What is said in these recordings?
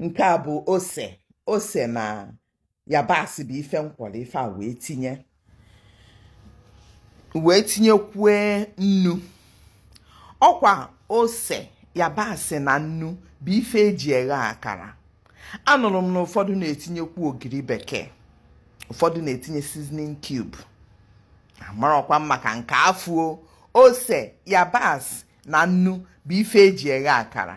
nke a bụ ose ose na yabasị bụ ife m kwọrọ ife a wee tinye wee tinyekwue nnu ọkwa ose yabasị na nnu bụ ife eji eghe akara anụrụ m na ụfọdụ na-etinyekwu ogiri bekee ụfọdụ na-etinye seasoning cube amarọkwa m maka nke afụ o ose yabasị na nnu bụ ife eji eghe akara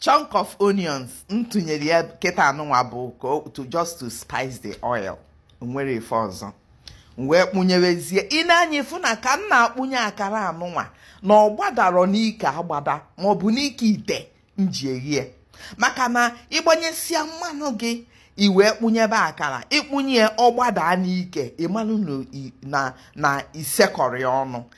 chunk of onions m tụnyere ya kịta anụnwa bụ to just to spice the oil o nwerọ ife ọzọ m wee kpụnyewezie i nee anya ịfụ na ka m na-akpụnye akara anụnwa na ọ gbadarọ n'ike agbada maọbụ n'ike ite m ji eghe e maka na ịgbanyesia mmanụ gị i wee kpụnyebe akara ịkpụnye ọ gbadaa n'ike ịmanụ na isekọrị ọnụ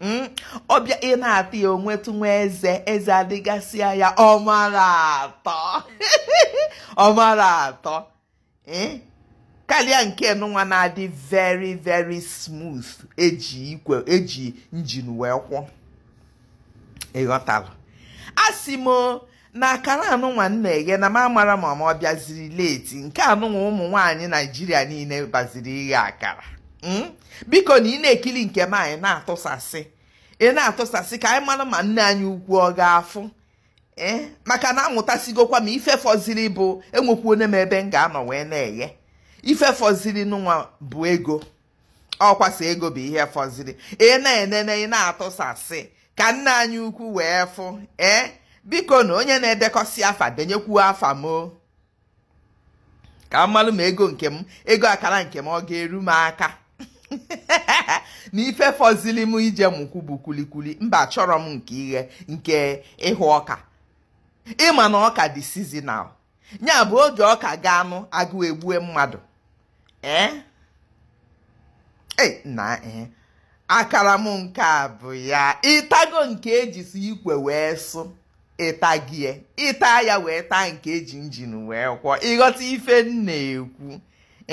Hmm? ọbịa ị na-ata ya onwetụ nwa eze eze adịgasịa ya ọ mara atọ ọ mara atọ eh? karịa nke nụnwa na-adị very very smooth eji njin wee kwọ ịghọtara asị m na akara anụnwa m na-eghe na m amarọ ma ma ọ bịaziri late nke anụnwa ụmụ nwaanyị naijiria niile baziri ighe akara hmm? biko na ị na-ekiri nke m a ị na-atụsasị ị na-atụsasị ka anyị mara ma nne anyị ukwu ọ ga-afụ ee eh? maka na amụtasigokwa m ife fọziri bụ enwekwu onye m ebe m ga-anọ wee na-eghe ife fọziri nụnwa bụ ego ọkwa a sị ego bụ ihe fọziri ị na-enene ị na-atụsasị ka nne anyị ukwu wee fụ ee biko na onye na-edekọsị afa denyekwu afa m ka m malụ ma ego nke m ego akara nke m ọ ga-eru m aka na ife fọzili m ije mụkwu bụ kulikuli mba achọrọ m nke ighe nke ịhụ ọka ịma na ọka dị seasonal ya bụ oge ọka gaanụ agụ egbue mmadụ ee eh? eh, na ee eh. akara m nke a bụ ya ịtago nke ejisi ikwe wee sụ ịta gie ịta ya wee taa nke eji njin wee kwọ ịghọta ife m na-ekwu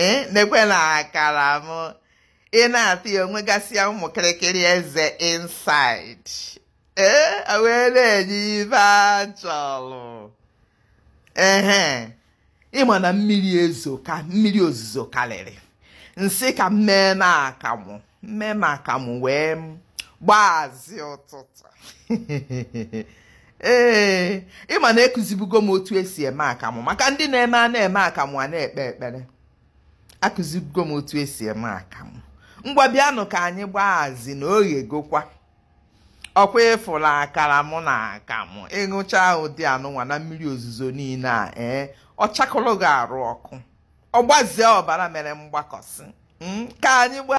ee nekwe na akara m ị na-ata ya onwegasịa ụmụ kịrịkịrị eze inside ee wee na-enye ife achọrọ ehe ịma na mmiri ezoka mmiri ozuzo karịrị m sị ka m mee na akamụ m mee na akamụ wee gbaazi ụtụtụ ee ịma na ekuzibugo m otu esi eme akamụ maka ndị na-eme a na-eme akamụ a na-ekpe ekpere akụzibugo m otu esi eme akamụ ngwa bịanụ ka anyị gbaazi na o ghegokwa ọkwa ịfụla akara mụ na akamụ ịṅụcha ụdị anụnwa na mmiri ozuzo niile a ee ọ chakụrụ gị arụ ọkụ ọ gbazie ọbara mere mgbakọsị hmm, ka anyị